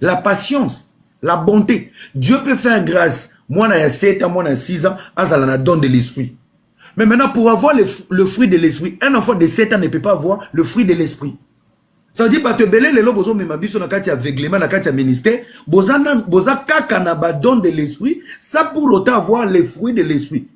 la patience la bonté dieu peut faire grâce mwana ya 7 ans mwana ya 6 ans azala na don de l'esprit mais maintenant pour avoir le, le fruit de l'esprit un enfant de 7 ans ne peut pas avoir le fruit de l'esprit ça veut dire bato ebele lelo bozomema biso na kati ya aveuglement na kati ya ministère boza, boza kaka na badon de l'esprit ça pour autant avoir le fruit de l'esprit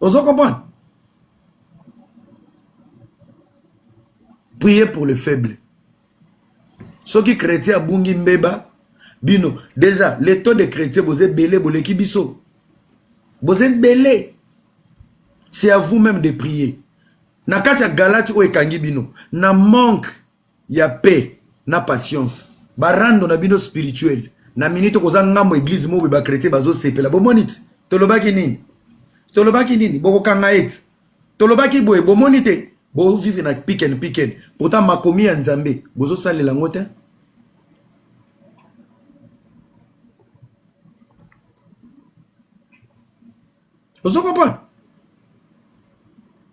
ozo comprendre prier pour le faible soki chrétien abungi mbeba bino déjà le taux de chrétien boza ebele boleki biso boza ebele c'est à vous même de prier na kati ya galati oyo ekangi bino na manque ya paix na patience barando na bino spirituel na minute okoza ngambo eglise mobe ba chrétien bazosepela bomoni te tolobaki nini tolobaki nini bokokanga ete tolobaki boye bomoni te bovivre na piken piken pourtant makomi ya nzambe bozosalela yango te ozo comprendre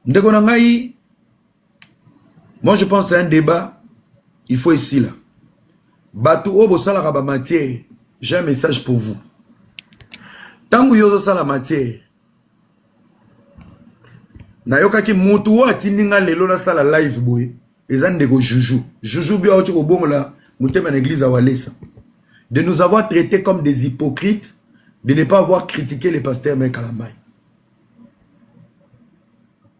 ndeko na ngai Moi, je pense c'est un débat, il faut ici là. Bato oyo bosalaka ba matière, j'ai un message pour vous. Tango yo ozosala matière, nayokaki mutu oyo atindi nga lelo nasala live boye, eza ndeko Juju. Juju bio auti kobongola motema na église ya Walesa. De nous avoir traités comme des hypocrites, de ne pas avoir critiqué le pasteur Mekalambaye.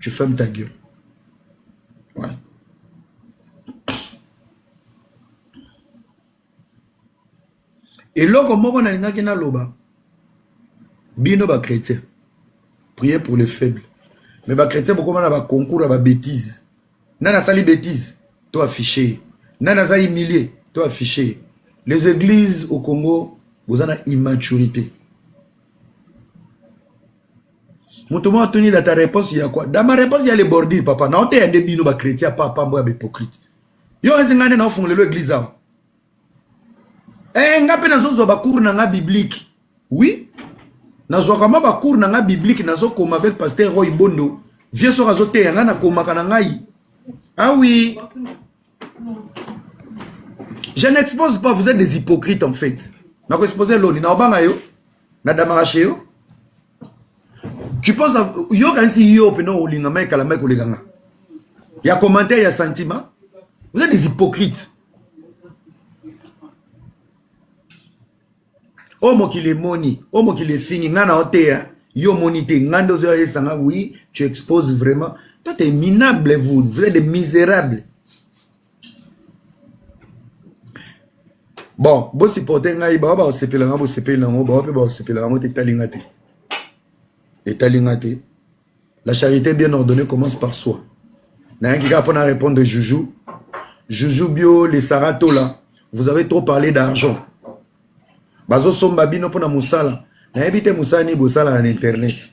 tu ferme ta gueule ouais. eloko moko nalingaki naloba bino bachrétien prier pour les faibles mais bachrétien bokoma na baconcours ya babétise nani asali bétise to affiche nani aza humilie to affiche les églises au congo boza na immaturité moto moko atuni da ta réponse ya quoi da ma réponse ya le bordure papa naoteya nde bino bachrétien apa apambo ya bahypocrite yo ezi ngai nde naofungolelo église awa e eh, ngai mpe nazozwa bacours na ngai biblique oui nazwaka mwa bacours na ngai biblique nazokoma avec pasteur roy bondo vie soki azoteya ngai nakomaka na ngai awi ah, je n'expose pas vous êtes des hypocrites en fait nakoexpose loni naobanga yo na damaka chez yo tu penses yo kanisi yo mpena olinga mai kala mai koleka nga ya commentaire ya sentiment vous êtes des hypocrites oyo oh, mokili emoni oyo oh, mokili efingi ngai na oteya yo omoni te ngai nde ozoya esanga oui tu expose vraiment toi t'es minable vous vous êtes des misérables bon bosupporte ngai bawa bakosepela ngai bosepeli na yango bawa mpe bakosepela yango te etali ngai te etali ngai te la charité bien ordonnée commence par soi nayaki kaka mpo na répondre joujou joujou bio le saratola vous avez trop parlé d'argent bazosomba bino mpo na mosala nayebi te mosala nini bosalaka na internet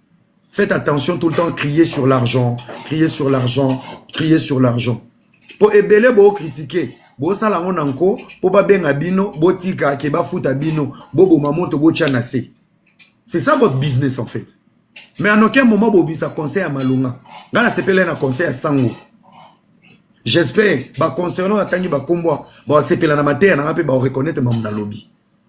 Faites attention tout le temps crier sur l'argent, crier sur l'argent, crier sur l'argent. Po ebele bo critiquer, bo sala ngo na nko po ba benga bino, bo tika ke ba futa bino, bo boma moto bo tia na se. C'est ça votre business en fait. Mais en aucun moment bo bisa conseil à Malunga. Nga na sepela na conseil à Sango. J'espère ba concernant atangi ba kombo ba sepela na mateya na pe ba reconnaître mamu na lobi.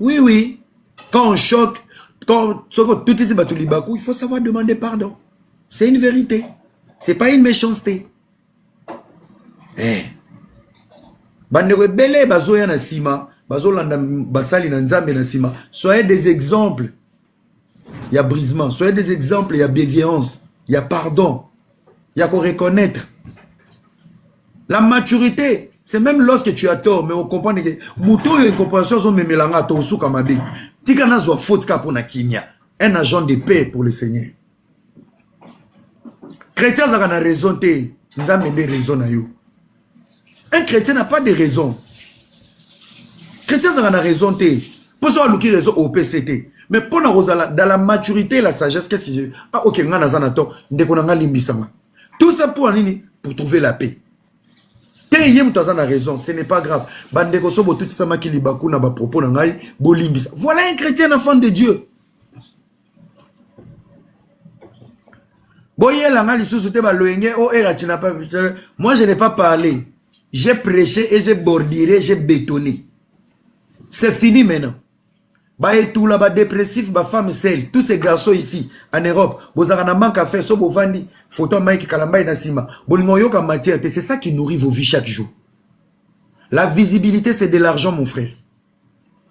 oui oui quand on choque quand soki otutisi bato libaku il faut savoir demander pardon c'est une vérité c'est pas une méchanceté eh. bandeko ebele bazoya na nsima bazolanda basali na nzambe na nsima soyez des exemples ya brisement soyez des exemples ya bienveillance ya pardon ya ko reconnaître la maturité c'est même lorsque tu as tort mais okomprendre ke moto oyo incompréhension azomemela nga tokosuka mabe tika nazwa faute kaka mpo na kimia un agent de paix pour le seigneur chrétien azalaka na raison te nzambe nde raison na yo un chrétien n'a pas de raison chrétien azalaka na raison te mpo so aluki raison opc te mais mpo na kozala dans la maturité et la sagesse qu'est ce que je ah ok ngai naza na to ndeko na ngai limbisama tout ça mpo na nini pour trouver la paix te ye moto aza na raison ce n'est pas grave bandeko so botutisamaki libaku na bapropos na ngai bolimbisa voilà un chrétien na fan de dieu boyela nga lisusu te baloyenge o oh, era eh, tina moi je n'ai pas parlé j'ai prêché et j'ai borduré j'ai bétonné c'est fini maintenant baetula badépressif bafemme sel tous ces garçons ici en europe bozalaka na manque à faire so bovandi photo mike kalambai na nsima bolinga oyoka matière te c'est ça qui nourrit vos vies chaque jour la visibilité c'est de l'argent mon frère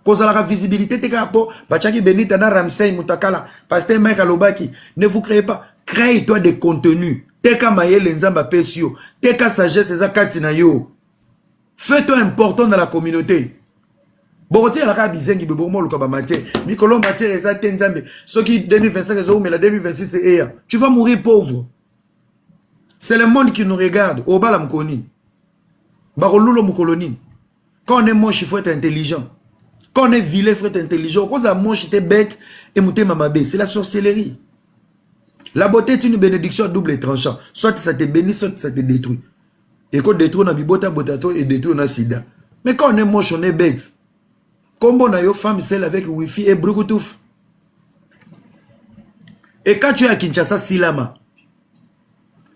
kozalaka visibilité te kaka mpo batiaki benita na ramsey mutakala pasteur mike alobaki ne vous créez pas crée toi des contenus teka mayele nzambe apesi yo teka sagesse eza kati na yo fait toi important na la communauté bokotikala kaka bizengi boye bokomoluka bamatiere mikolo matiere eza te nzambe soki 2025 ezoumela 2026 eya tu vas mourir pauvre c'est le monde qui nous regarde obala mokolo nini bakolula mokolo nini quand on est moche il faut être intelligent quand on est vilain il faut être intelligent okozala moche te bête et motema mabe c'est la sorcellerie la beauté est une bénédiction à double tranchant soit ça te bénit soit ça te détruit eko détruire na bibota bota to et détruire na sida mais quand on est moche on est bête kombo na yo femme seule avec wifi et brukutufu ekati oyo ya kinshasa silama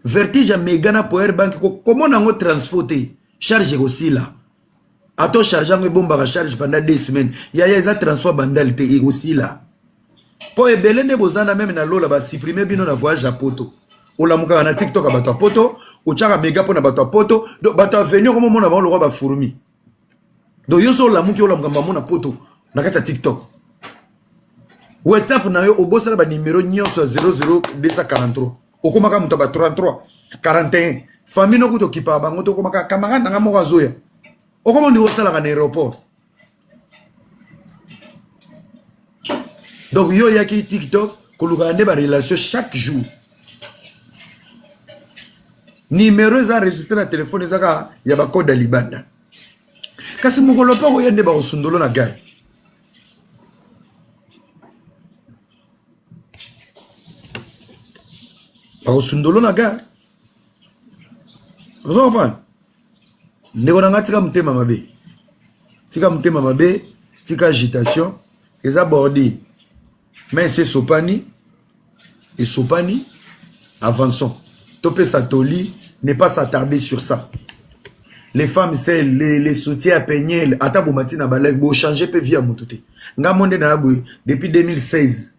vertige ya mega na power bank komona yango transfo te charge ekosila ato charge yango ebombaka charge pendant deux semaines yaya eza transfert bandal te ekosila mpo ebele nde boza na meme na lola basuprime bino na voyage ya poto olamukaka na tiktok ya bato ya poto otyaka mega mpo na bato ya poto do bato ya veni okomomona bango lokwa bafourmi do yo so olamuki olamuka mbambo na poto na kati ya tiktok whatsapp na yo obosana banimero nyonso ya 00243 okomaka moto ya ba 33 41 famille noko tokipaka bango tokomaka camarade nanga moko azoya okoma ndiko osalaka na aéroport donc yo oyaki tiktok kolukaka nde barelation chaque jour nimero eza enregistre na telefone eza kaka ya bacode ya libanda kasi mokolo mpe okoya nde bakosundolo na gare bakosundolo na gare ozo comprendre ndeko na ngai tika motema mabe tika motema mabe tika agitation eza bordi mai esi esopani esopani avançons topesa toli ne pas s'attarder sur ça les femmes seules les, les soutiens ya peniel ata bomati na balai bochange mpe vie ya motu te ngai mo nde naya boye depuis 2016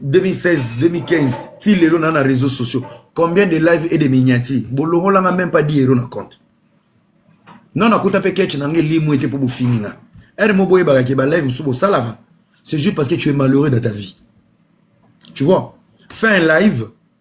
2016 2015 ti lelo na na réseaux sociaux combien de live et de miniati bolongolanga même pas 10 euro na compte non nakuta mpe ketch na ngai limu ete mpo bofini nga ere mo boyebaka ke balive mosusu bosalaka c'est juste parce que tu es malheureux dans ta vie tu vois fais un live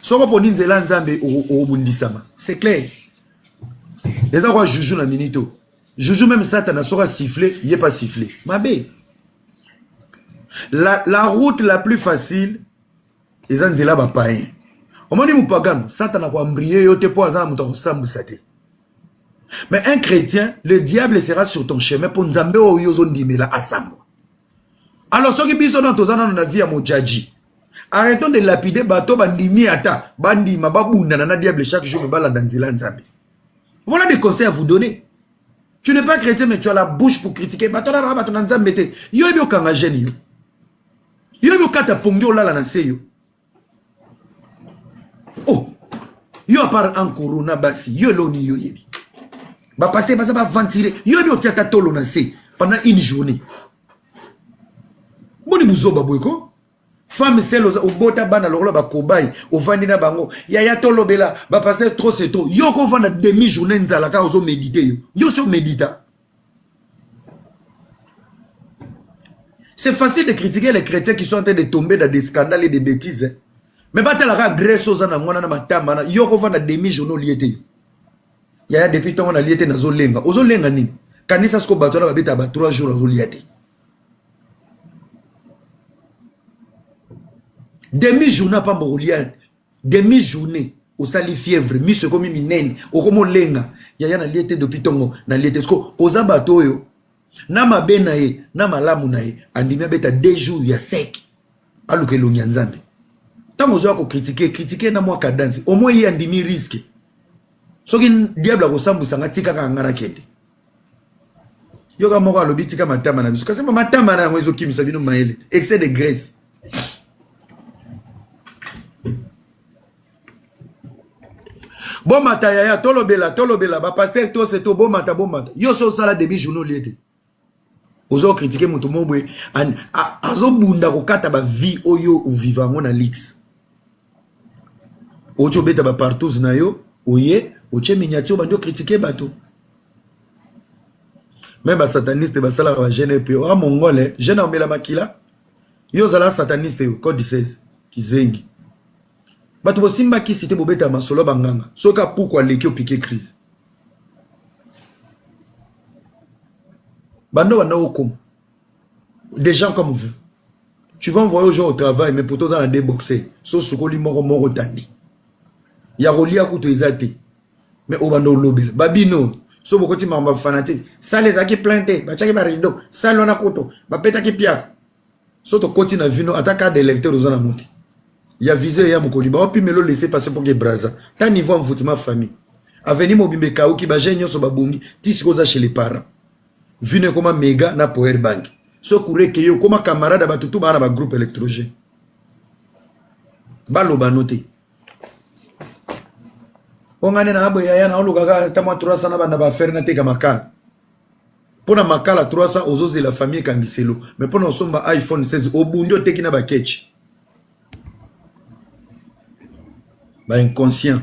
soko poni nzela ya nzambe obundisama c'est clair eza kwa juju na minito juju meme satana soki asifle ye pa sifle mabe la, la route la plus facile eza nzela bapayen omoni mopagano satana koambrie yo te mpo aza na moto ya kosambwisa te mais un chrétien le diable sera sur ton chemin mpo nzambe oyo ozondimela asambwa Alors soki biso nano toza nano na vie ya mojaji arrêtons de lapider bato bandimi ata bandima babundana na diable chaque jour me balanda nzela nzambe voilà des conseils à vous donner tu n'es pas chrétien mais tu as la bouche pour critiquer bato na bato na nzambe te yo ebi okanga jeune yo yo ebi okata pongi olala na se yo oh yo apart en corona basi yo eloni yo yebi bapaster baza baventire yo yebi otia ata tolo na se pendant une journée boni buzoba boye ko femme sele oza obota bana lokola bakobai ovandi na bango yaya tolobela bapaster trop se trop yo kovanda demi journée nzala kaka ozomédite yo yo si omedita C'est facile de critiquer les chrétiens qui sont en train de tomber dans des scandales et des bêtises. Hein. Mais pas la grèce graisse aux anangwana na matama na yoko va na demi journaux liété. Yaya depuis tant on a liété na zo lenga. Ozo lenga nini? Kanisa ce que bateau na babeta ba 3 jours azo liété. Demi journal pas mboko liété. demi journée osali fièvre miso ekomi minene okomi olenga yaya nalie te depuis ntongo nalie te siko oza bato oyo na mabe na ye na malamu na ye andimi abeta deux jours ya sec aluka elongi ya nzambe ntango ozoya kokritike kritike na mwa kadansi omoi ye andimi riske soki diable akosambwisa nga tikaka nga nakende yoka moko alobi tika matama na biso kasi matama na yango ezokimisa bino mayele te excès de graisse bomata yaya tolobela tolobela bapaster tose to bomata bomata yo so osala demi journal olie te ozo kritike moto moko boye azobunda kokata bavie oyo oviva yango na lix otie obeta ba partous na yo oye otie miniati obandi okritike bato meme basataniste basalaka bagene epe oa ah, mongole gene aomela makila yo ozala sataniste yo code 16 kizengi bato bosimba kisi te bobeta masolo banganga soki apuku aleki opike crise bando banda okoma des gens comme vous tu vas envoyer aux gens au travail mais pourtant oza na deux boxe so sukoli moko moko tandi ya kolia kutu eza te mais obanda olobela babino so bokoti makambo bafana te sale ezalaki plein te batiaki barido sale wana kutu bapetaki piaka so tokoti na vino ata carte d'électeur oza nango te ya visio ya mokoli baopimelo laisse passe mpo ke braza ta niveau envoutiment famille aveni mobimba ekauki bajeune nyonso babungi ti sikoyo oza chez les parents vino ekoma mega na poer bangi so kureke yo okoma camarade ya bato tu baa na bagroupe électrogène baloba no te mpo ngai nde na boye yaya naolukaka ata mwa 300 na banda baaffaire nateka makala mpo na makala 300 ozozela famille ekangiselo me mpo na osomba iphone 16 obundi oteki na bakeci bainconscient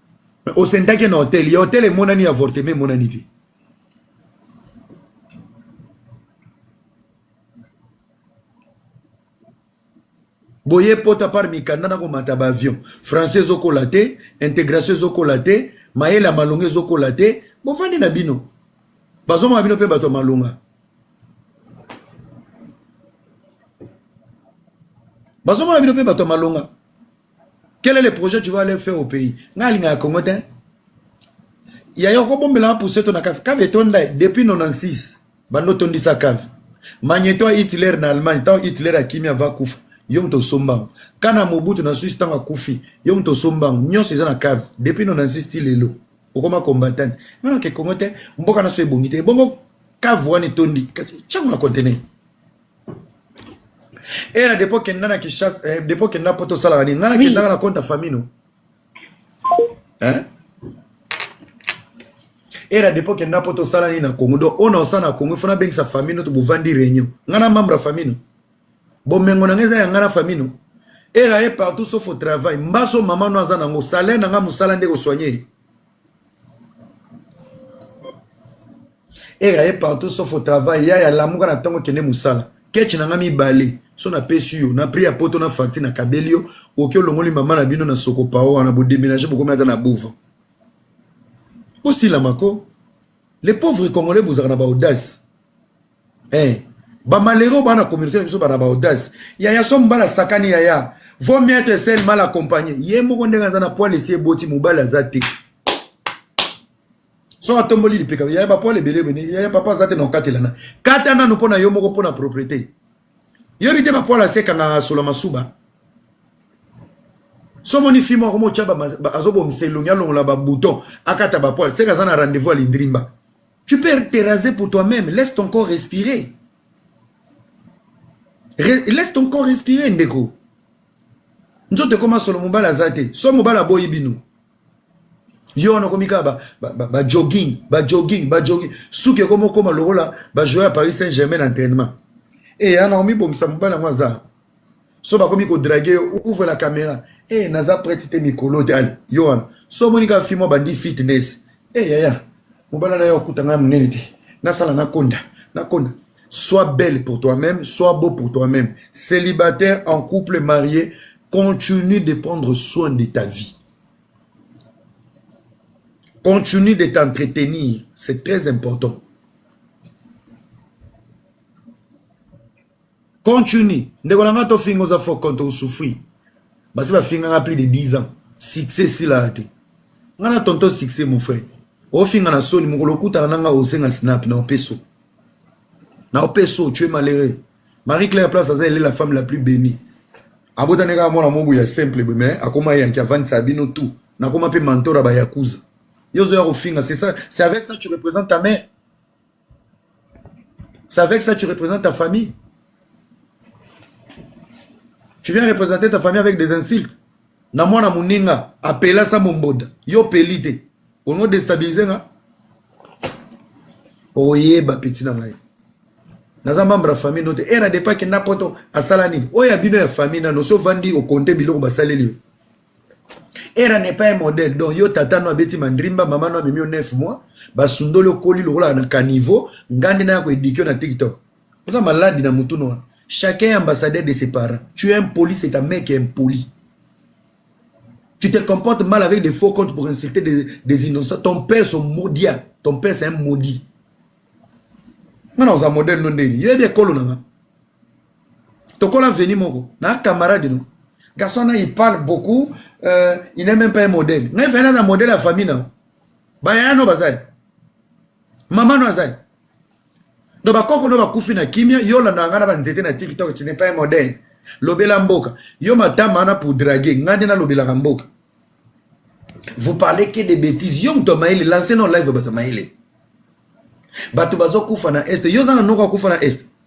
Mais au Sentake na hôtel, il y a hôtel et mon ami avorté, mais mon ami dit. boye pota par mikanda na komata baavion français ezokola te intégration ezokola te mayele ya malonga ezokola te bofandi na bino bazomaka bino mpe bato ya malonga bazomona bino mpe bato ya malonga quel est le projet tu vas aller faire au pays ngai alingaka congo te yaya okobombela puseto na cave cave etonda depuis 96 bando otondisa cave magneto ya hitler na allemagne ntango hitler akimi ava kufa yo moto osomba yango kana mobutu na swisse ntango akufi yo moto osomba yango nyonso eza na cave depuis 96 ti lelo okoma combattant nana ke congo te mboka na so ebongi te ebongo cave wana etondi kasi ntango na contener Et na dépôt kenda na Kinshasa, eh, dépôt kenda poto sala la nini? Nana oui. kenda na compte famille no. Hein? Et na dépôt kenda poto sala la nini na Congo. Donc on a ça na Congo, il faut na bengi sa famille no to buvandi réunion. Ngana membre famille no. Bon mengo na ngeza ya ngana famille no. Et là est partout sauf au travail. Mbaso maman no azana ngo salaire na nga musala ndeko soigner. ere aye partout sauf au travail yaya lamuka na ntongo kende mosala keche na ngai mibale so napesi yo na prix ya poto na facture na kabeli yo oki olongoli mama na bino na sokopao wana bodemenage bokomi ata na bova osilama ko le pauvre congolais bozalaka na baaudace eh ba malheureux ba na communauté biso ba na ba audace ya ya somme bala sakani ya ya vaut mieux être seul mal accompagné ye moko ndenge aza na poil esi eboti mobali aza te soki atomboli lipeka yaya bapoil ebele ebene yaya papa aza te na okatelana kata nanu mpo na yo moko mpo na propriété yoyebi te bapoil asekanga sola masuba somoni fi moko motya azobongisa elongi alongola babouton akata bapoil seke aza na rendez-vous ya lindrimba Tu peux te raser pour toi-même, laisse ton corps respirer. Re laisse ton corps respirer ndeko. Nzoto ekoma solo mobala aza te. So mobala boyi bino. Yo wana okomi kaka ba, ba, ba, ba jogging, ba jogging, ba jogging. Suki ekoma okoma lokola ba joueur ya Paris Saint-Germain na entraînement. Et ya Naomi bomisa mobala yango aza. so bakomi kodrage yo ouvre la caméra e eh, hey, naza prete te mikolo dani yo wana so omoni kaka fimo abandi fitness e eh, hey, yaya mobala na yo okuta ngai monene te nasala nakonda nakonda sois belle pour toi-même sois beau pour toi-même célibataire en couple marié continue de prendre soin de ta vie continue de t'entretenir c'est très important continue ndeko na nga tofinga oza faux compte osouffrir basi bafingaka plus de 10 ans succès esilaka te nga na tonton succès mon frère ofinga na soni mokolo okutana na nga osenga snap na opeso na opeso tu es malheureux marie claire place aza ele la femme la plus bénie abotani kaka mwana mobu ya simple boye mais akoma yanki avandisa bino tout nakoma mpe mentor ya bayakuza yo ozoya kofinga c'est ça c'est avec ça tu représente ta mère C'est avec ça que tu représentes ta famille. Tu viens représenter ta famille avec des insultes. Na mwana muninga apela sa momboda. Yo peli te. Ono déstabiliser nga. Oyeba petit na ngai. naza membre ya famille no te e na depa kenda poto asala nini oyo ya bino ya famille nano so ovandi okonte biloko basaleli yo era n'est pas un modèle donc yo tata no abeti mandrimba mama no amemi yo 9 mois basundoli okoli lokola na caniveau ngai nde naya koedike na tiktok oza maladi na motu noa chacun ambassadeur de ses parents tu es impoli c'est un mec impoli tu te comportes mal avec des faux comptes pour insulter des, des innocents ton père son maudia ton père c'est un maudit nga na oza modèle no ndeni yo yebi ekolo na nga tokola veni moko na camarade no garçon na il parle beaucoup euh, il n'est même pas un modèle ngai vena na modèle ya famille na bayaya no bazali mama no azali donc bakoko no bakufi na kimia yo olandaka ngai na banzete na tiktok tu n'es pas un modèle lobela mboka yo matama wana pour drague ngai nde nalobelaka mboka vous parlez que des bêtises yo moto mayele lance no live bato mayele bato bazokufa na est yo oza na noko akufa na est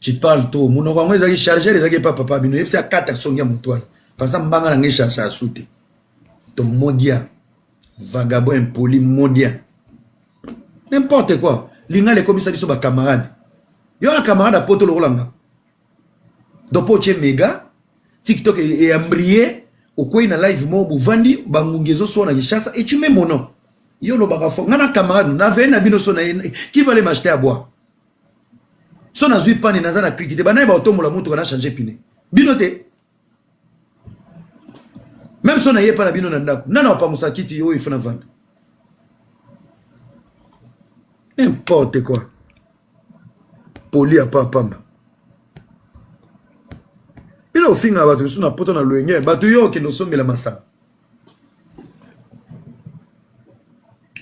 tu parle trop monoko yango ezalaki chargeur ezalaki epa papa bino yebisi akata songi ya motu wana pansa mbanga na ngai charge asu te to modia vagabond impoli modia n'importe quoi lingala ekomisa biso bacamarade yo na camarade ya poto lokola nga donc mpo otye mega tiktok eyambrie e okwei na live moko bovandi bangungi ezoswana kinshasa et tu mets mon nom yo olobaka fo nga na camarade na veye na bino so na ye qui va le macheter à boire so nazwi pane naza na kriki te banaye baotombola motuka na change pine bino te meme so naye epa na bino na ndako nana wapangusa kiti oyo ifo na vanda n'importe quoi poli ya pa pamba bino ofingaka bato mosusu na poto na loyenge bato yo okende osombela masanga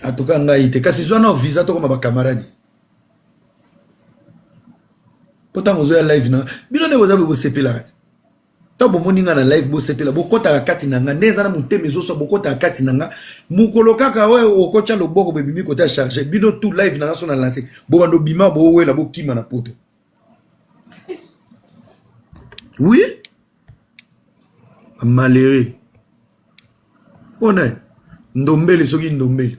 atuka ngai te kasi zwa nao visa tokoma bakamaradi mpo ntango ozoya live na bino nde boza bosepelaka te ntango bomoni nga na live bosepela bokotaka kati na nga nde eza na motema ezosa bokotaka kati na nga mokolo kaka oyo okotya loboko bebimi kota charge bino tout live na nga so na lance bobanda obima bowela bokima na poto oui malheureux mpona ndombele soki ndombele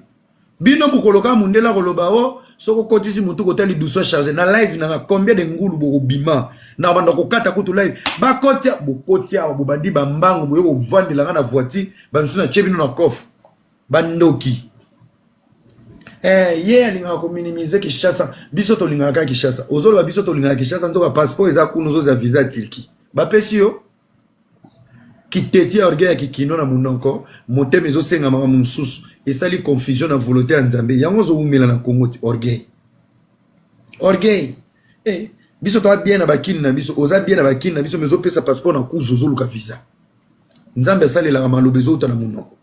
bino mokolo kaka mondele akoloba o oh, soki okotisi motu kota lidusu charge na live nanga combien de ngulu bokobima na banda kokata kutu live bakoti bokoti awa bobandi bambango boye kovandela nga na voiture bamisusu natye bino na coffre bandoki eh, ye alingaka kominimize kinshasa biso tolingaka kaka kinshasa ozoloba biso tolingaka kinshasa nzoka passeport eza kuna ozozwa visa turquie bapesi yo kiteti ya orgueil ya kikino na munoko motema ezosenga makambo mosusu esali confusion na volonté ya nzambe yango ozowumela na congo ti orgueil orgueil eh, biso toa bien na bakini na biso oza bien na bakini na biso mais ozopesa passeport na kuzu ozoluka visa nzambe asalelaka maloba ezowuta na monoko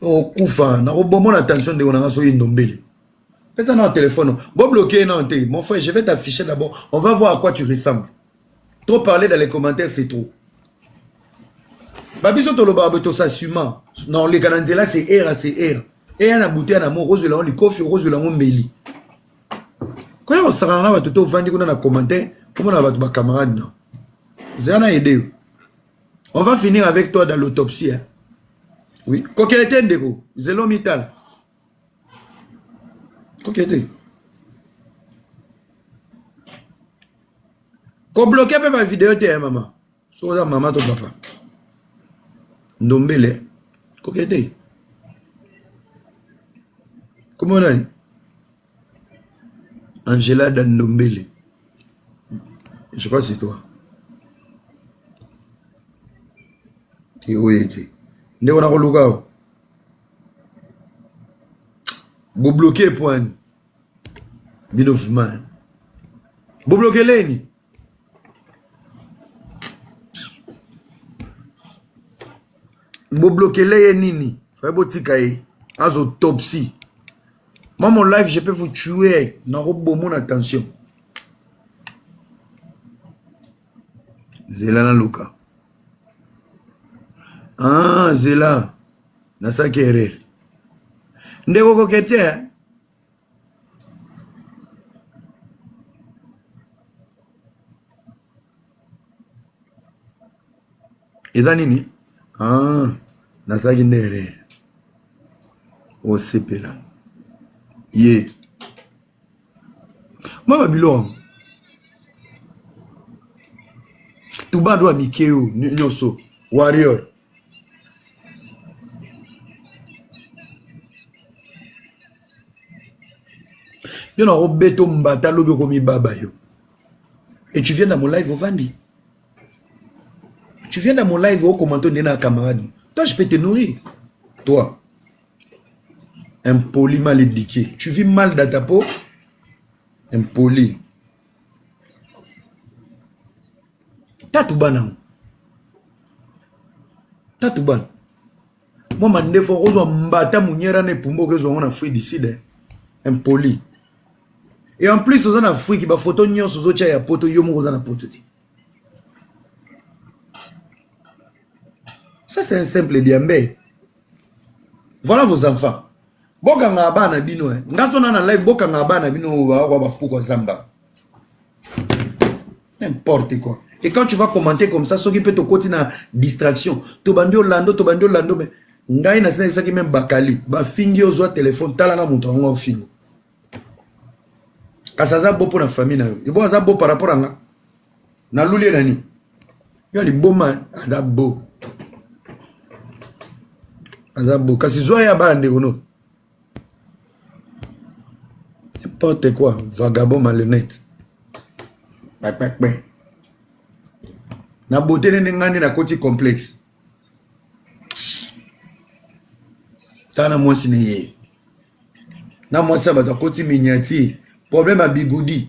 okufa nakobomona tension ndeko na nga soki ndombele Pesa na téléphone. Bon bloquer non te. Mon frère, je vais t'afficher d'abord. On va voir à quoi tu ressembles. Trop parler dans les commentaires, c'est trop. Babiso toloba beto s'assuma. Non, les Kananzela c'est era, c'est era. Et na bouté na mo rose lango likofi rose lango mbeli. Quand on sera là bato to vandi kuna na commentaire, comment na bato ba camarade non. Zana aider. On va finir avec toi dans l'autopsie. Hein. Oui, coquette ndeko, zelo mital. ok te kobloke mpe bavideo te ya mama soki oza mama to papa ndombele koke te kombo nani angela da ndombele je sais pas si toi te oye te ndeko nakoluka yo Bo bloquer point. Bino vraiment. Bo bloquer leni. Bo bloquer leye nini? Faye botika ye. Azo topsy. Moi, mon live, je peux vous tuer. Naro bomo na tension. zela naluka ah, zela nasaki erere ndeko koke te eh? eza nini ah, nazalaki nde erreur osepela ye mwa babilone tubado ya mike oyo nyonso warrior yo nakobeta ombata lobi okomibaba yo et tu viens dans mon live ovandi tu viens dans mon live okomante nde na camarade toi je peux te nourrir toi impoli mal eduqué tu vis mal dans ta peau impoli tatu bana tatu bana mwa mandefu okozwa mbata monyera na epumba okezwa yango na afrique du sud impoli et en plus oza na afrique bafoto nyonso ozotya ya poto yo moko oza na poto te ça c'est un simple diambe Voilà vos enfants. Bokanga bana bino eh. Ngaso na na live bokanga bana bino wa wa bapuko zamba. N'importe quoi. Et quand tu vas commenter comme ça, soki peut te côté na distraction. To bandi Orlando, to bandi Orlando mais ngai na sina isaki même bakali. Ba fingi ozwa téléphone tala na moto ngo fingo. Kasaza bo pour la famille na yo. Ibo aza bo par rapport à nga. na lulie na nini yo liboma aza bo aza bo kasi zwa ya bana ndeko no n'importe quoi vagabond malhonnête bakpakpe na bote nene ngai nde nakoti complexe ta na mwasi na ye na mwasi ya bato akoti miniati problème ya bigudi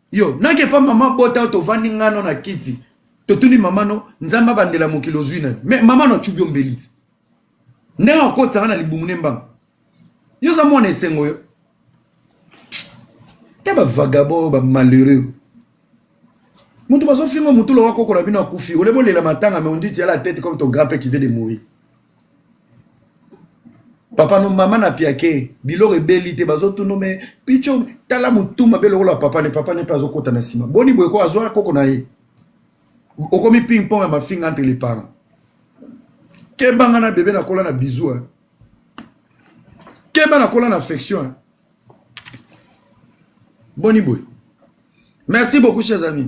yo nake pa mama bota tovandi ngano na kiti totuni mama no nzambe abandela mokili ozwi nani me mama no acubi ombeli te ndenge akotisanga na libumu ne mbanga yo oza mwana esengo yo ta bavagabo bamalheureux moto bazofinga motu lokola koko na bino akufi ole bolela matanga me onditi yala tete comme ton grand père qui vient de mourir papa no mama na piake biloko ebeli te bazotuna me picho tala motu mabe lokola papa ne papa ne mpe azokota na nsima boni boye ko azwa koko na ye okomi ping pong ya mafinga entre les parents kebanga na bebe nakola na bizu eh. keba nakola na affection eh. boni boye merci beaucoup chers amis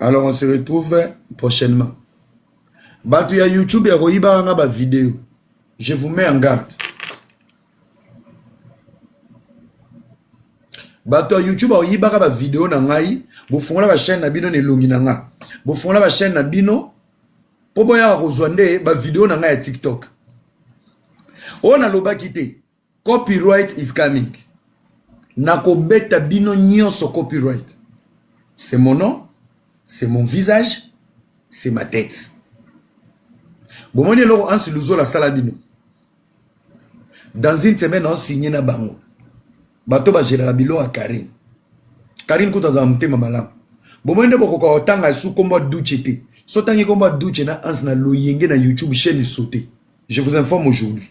alors on se retrouve prochainement bato ya youtube ya koyibaka nga bavideo je vous mets en garde bato ya youtube bakoyibaka bavideo na ngai bofungola bachaine na bino na elongi na nga bofungola bachaine na bino mpo boyaka kozwa nde bavideo na ngai ya tiktok oyo nalobaki te Copyright is coming. Nakobeta bino nyonso copyright. C'est mon nom, c'est mon visage, c'est ma tête. Bomoni eloko Ansi Luzola asala bino. Dans une semaine, on signe na bango. Bato bajelaka bilo ya Karine. Karine kutu azala motema malamu. Bomoni nde bokoka kotanga su kombo ya Duce te. So tangi kombo ya Duce na Ansi na loyenge na YouTube chaîne saute. Je vous informe aujourd'hui.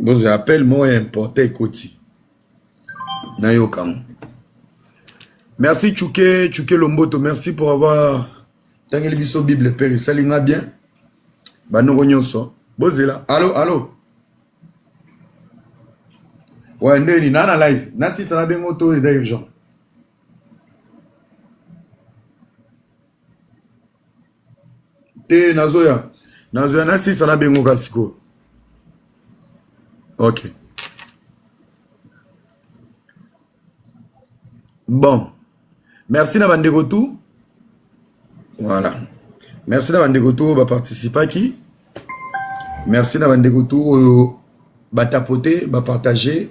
Bozo appel moko ya importe ekoti nayoka ngo. Merci Tchouke Tchouke Lomboto merci pour avoir tangeli biso Bible père esali nga bien banoko nyonso bozela allo allo ouais ndeni na na live na sisa na bengo to eza urgent Te nazoya. Nazoya na sisa na bengo ka sikoyo. Okay. Bon. Merci na bandeko tout. Voilà. Merci na bandeko tout ba participaki. Merci na bandeko tout oyo ba tapoter, ba partager.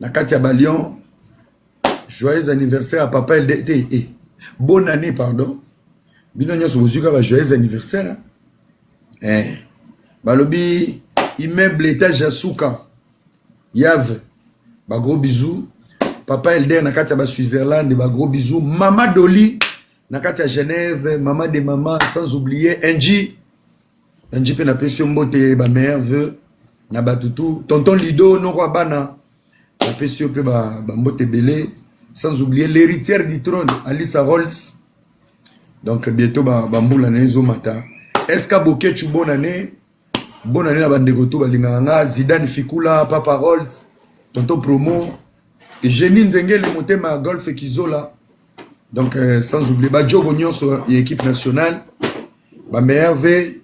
na kati ya balion joyeux anniversaire ya papa elde te e bonne année pardon bino nyonso bozwi kaka joyeux anniversaire eh. balobi immeuble etage ya suka yave bagros bisous papa elder na kati ya baswitzerlande bagros bisous mama doli na kati ya genève mama de mama sans oublier nji Angie mpe napesi yo mbote ba meilleurs vœux na bato tout tonton lido noko ya bana napesi yo mpe bambote ebele sans oublier l'héritière du trône alisa rolls donc bientôt bambula ba na ye ezomata eska bokechu bonne année bonne année na bandeko to balingaka nga zidane fikula papa rolls tonton promo génie nzengele motema ya golfe kizola donc euh, sans oublier badjogo nyonso ya équipe nationale bamerve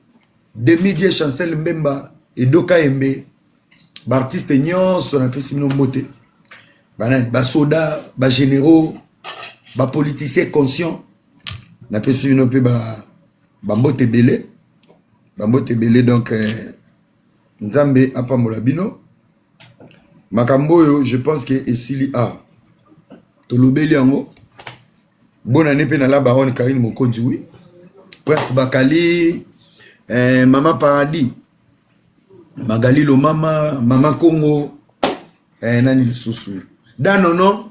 demidie chancel mbemba edoka yembe baartiste nyonso napesi bino mbote banani basoda bagénéraux bapoliticien conscient napesi bino mpe bambote ba ebele bambote ebele donc euh, nzambe apambola bino makambo oyo je pense que esili a ah, tolobeli yango bonane mpe na la baronne karine mokonzi wi prince bakali eh, mama paradis magali lomama mama congo eh, nani lisusu danono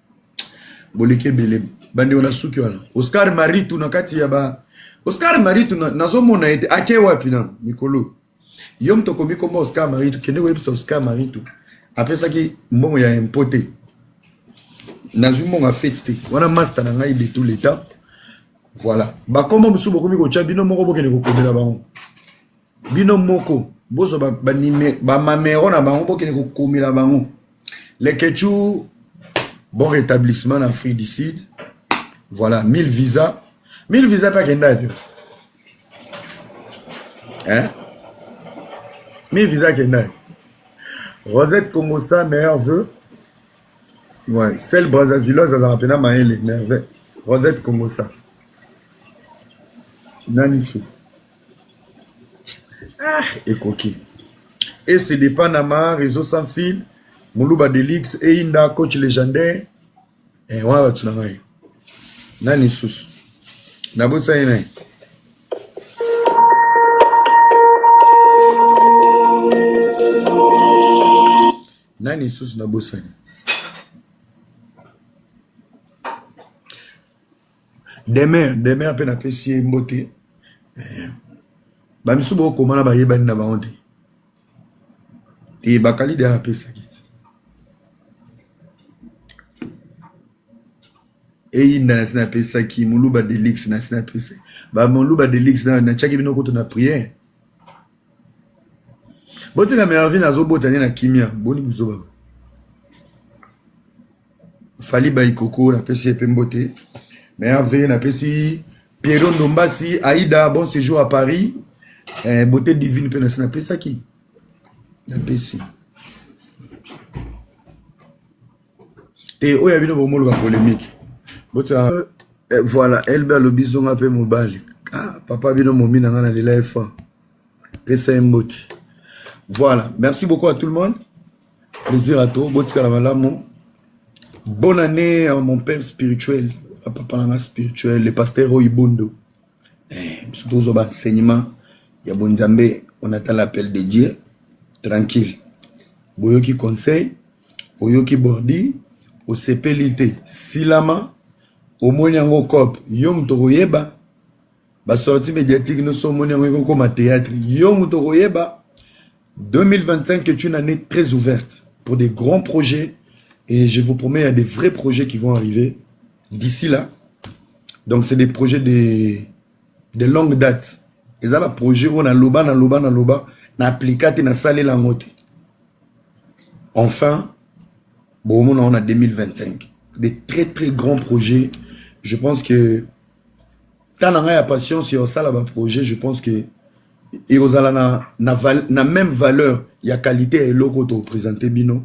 boleki ebele bandeko na suki wana oscar maritu na kati ya ba oscar maritu nazomona na ete ake wapi na mikolo yo moto okomi komba oscar maritu kende koyebisa oscar maritu apesaki mbongo ya impo te nazwi mbongo ya fete te wana masta na ngai de tout le temps voilà bakoma mosusu bokomi kotya bino moko bokende kokomela bango bino moko bozwa bamamero na bango bokende kokomela bango lekechou bon rétablissement na afrique du sud voilà 1000 visa 1000 visa mpe akenda yo hein 1000 visa akenda yo rosette congosa meilleur vœu ouais celle brassavilloise azalaka mpena mayele merveille rosette congosa nani susu ah ekoki ese depa na ma réseau sans fil muluba delix eyinda coach légendaire eh, wana bato na ngai nani susu nabosani naye nani lisusu nabosani demeure demeure mpe napesi ye mbote eh, bamisusu bokoma na bayebani na bango te te bakali deya napesaki eyinda nasi napesaki moluba delix nasi napesaki bamoluba delix natyaki bino kutu na priere botika mervine azobota nde na kimia boni buzoba fali baikoko napesi ye mpe mbote merve napesi pierro ndombasi aida bon séjour à paris eh, beauté divine mpe nasi napesaki napesi te oyo ya bino bomoluka polémique botya euh, eh, voilà elbe alobi zonga mpe mobali ah, papa bino momi na ngai na lela efa pesa ye mbote voilà merci beaucoup à tout le monde plaisir à toi botikala malamu bonne année à mon père spirituel à papa nanga spirituel le pasteur oibondo eh, biso tozwa baenseignement ya bonzambe on attend l'appel de dieu tranquille boyoki conseil oyoki bordi osepeli te silama omoni yango cope yo moto koyeba ba sortie médiatique nyonso omoni yango ekokoma théâtre yo moto okoyeba 2025 est une année très ouverte pour des grands projets et je vous promets il y a des vrais projets qui vont arriver d'ici là donc c'est des projets de, de longue date eza ba projet oyo naloba naloba naloba na aplika te nasalela yango te enfin bokomona yango na 2025 des très très grands projets je pense que temps na ngai ya patience ya kosala baprojet je pense que ekozala na, na, val, na même valeur ya qualité ya eloko oyo topresente bino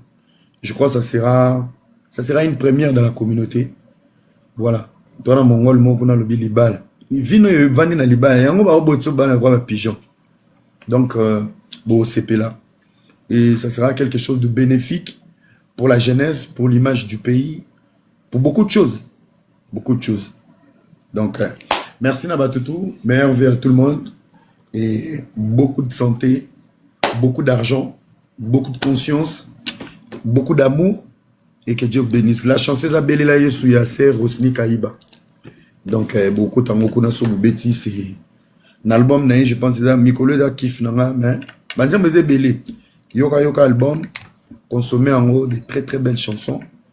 je crois ça sera ça sera une première dans la communauté voilà to na mongol moko kuna alobi libala vino oyo evandi na libala yango baobotisa bana kwa bapigeon donc euh, bosepela et ça sera quelque chose de bénéfique pour la jeunesse pour l'image du pays pour beaucoup de choses beaucoup de choses donc euh, merci na bato tout meilleur vie à tout le monde et beaucoup de santé beaucoup d'argent beaucoup de conscience beaucoup d'amour et que Dieu vous bénisse la chanceuse abelela yesu ya sœur Rosny Kayiba donc euh, beaucoup tango kuna so bobeti c'est na album na ye je pense eza mikolo eza kif na nga mais banzembo eza ebele yoka yoka album consommer yango de très très belles chansons